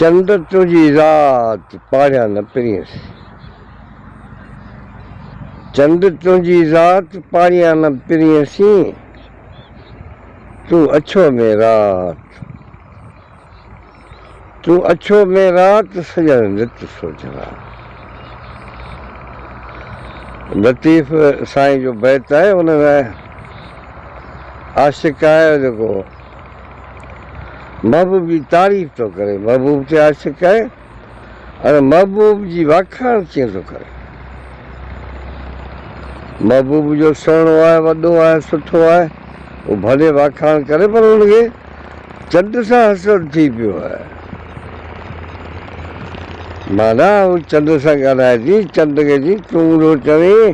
چنڊ تنهنجي ذات پاڙيان نه پرينس. چنڊ تنهنجي ذات پاڙيان نه پرينسين، تون اڇو ۾ رات، تون اڇو ۾ رات سڄڻ نت سوجهرا. لطيف سائين جو بيت آهي ان ۾ عاشق آهي جيڪو. محبوب جي تعريف ٿو ڪري، محبوب تي عاشق آهي ۽ محبوب جي واکاڻ ڪيئن ٿو ڪري. محبوب جو سهڻو آهي، وڏو آهي، سٺو آهي، هو ڀلي واکاڻ ڪري پر هن کي چنڊ سان حسد ٿي پيو آهي. معنيٰ هو چنڊ سان ڳالهائي ٿي، چنڊ کي ٿي تون اونڌو چوين.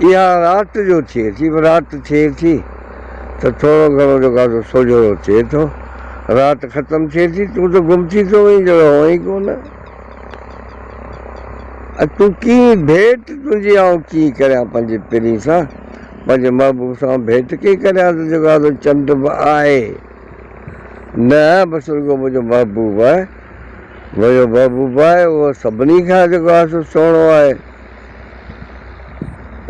اها رات جو ٿئي ٿي، رات ٿئي ٿي ته ٿورو گهڻو جو گادو سوجهرو ٿئي ٿو، رات ختم ٿئي ٿي تون ته گم ٿي ٿو وئين ڄڻ هئين ئي ڪو نه. اڄ تون ڪيئن ڀيٽ تنهنجي آئون ڪيئن ڪريان پنهنجي پرين سان، پنهنجي محبوب سان آئون ڀيٽ ڪيئن ڪريان تنهنجو گادو چنڊ به آهي نه بس رڳو منهنجو محبوب آهي، منهنجو محبوب آهي اهو سڀني کان جيڪو آهي سو سهڻو آهي.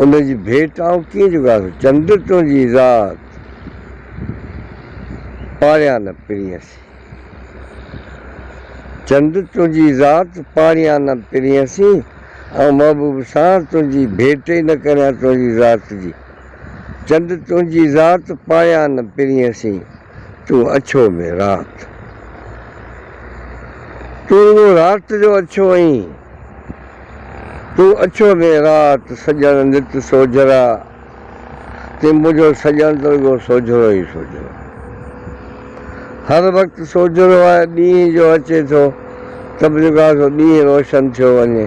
ان جي ڀيٽ آئون ڪيئن جوڳائيس، چنڊ تنهنجي ذات پاڙيان نه پرينسي، چنڊ تنهنجي ذات پاڙيان نه پرينسي، آئون محبوب سان تنهنجي ڀيٽ ئي نه ڪريان تنهنجي ذات جي، چنڊ تنهنجي ذات پاڙيان نه پرينسي. تون اڇو ۾ رات. تون رڳو رات جو اڇو آهين. تون اڇو ۾ رات، سڄڻ نت سوجهرا، تي منهنجو سڄڻ ته رڳو سوجهرو ئي سوجهرو. هر وقت سوجهرو آهي، ڏينهن جو اچي ٿو ته به جيڪو آسو ڏينهن روشن ٿيو وڃي.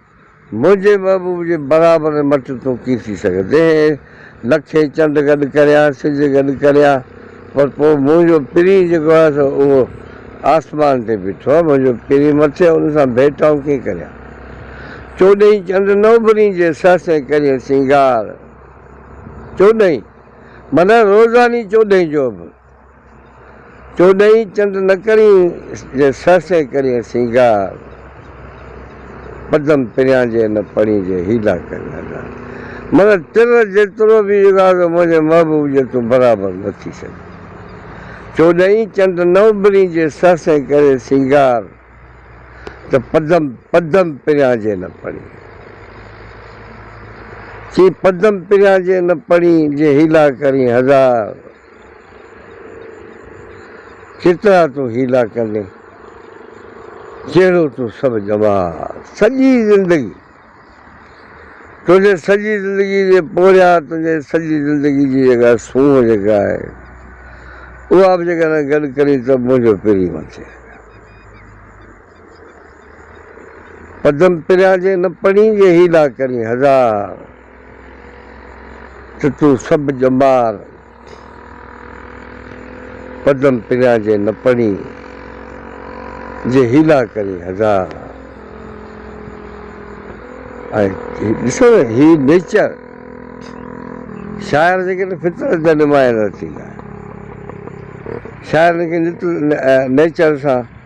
منهنجي محبوب جي برابر مٽ تون ڪي ٿي سگهندين؟ لکين چنڊ گڏ ڪريان، سج گڏ ڪريان، پر پوء منهنجو پرين جيڪو آهي سو اهو آسمان تي بيٺو آهي، منهنجو پرين مٿي ان سان ڀيٽ آئون ڪيئن ڪريان؟ چوڏهين چنڊ نه اڀرين جي سهس ۽ ڪرين سينگار. چوڏهين، معنيٰ روزاني چوڏهين جو اڀر. تو ڏئين چنڊ نه ڪرين جي سهه سهه ڪرين سينگار پدم پريان جي نه پڙين جي هيلا ڪرين ادار من تر جيترو به اغاز منهنجي محبوب جي تون برابر نه ٿي سگهين تو ڏئين چنڊ نه اڀرين جي سهه سهه ڪرين سينگار ته پدم پدم پريان جي نه پڙين چي پدم پريان جي نه پڙين جي هيلا ڪرين هزار. ڪيترا تون حيلا ڪندين، جهڙو تون سڀ ڄماء سڄي زندگي. تنهنجي سڄي زندگي جي پورهيان تنهنجي سڄي زندگي جي جيڪا سونهن جيڪا آهي، اها به جيڪڏهن گڏ ڪرين ته منهنجو پرين وٺجي. پدم پريان جي نه پڻي جي هيلا ڪرين هزار ته تون سڀ ڄمار پدم پريان جي نه پڻي جي هيلا ڪرين هزار ۽ ڏسو نه هي نيچر شاعر جيڪڏهن فطرت جا نمايان نه ٿيندا شاعر نيچر سان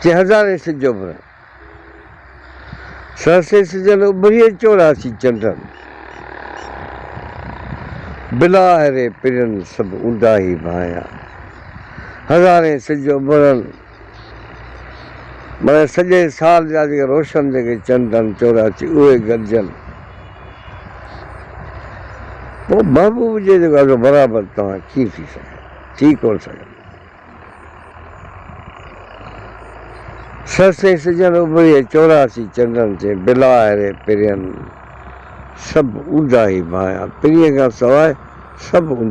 چي هزارين سج اڀرن، سهسين سجن اڀرين چوراسي چنڊن، بلا آهري پرين سڀ اونداهي ڀانئيا. هزارين سج اڀرن معنيٰ سڄي سال جا جيڪي روشن جيڪي چنڊ آهن چوراسي اهي گڏجن، پوء محبوب جي جيڪو عزو برابر توهان ڪيئن ٿي سگهندا، ٿي ڪونه سگهندا. سرسي سجن اڀريي چوراسي چنڊن تي بلا آهري پرين سڀ اونداهي ڀانئيا پرين کان سواء سڀ اونداهي.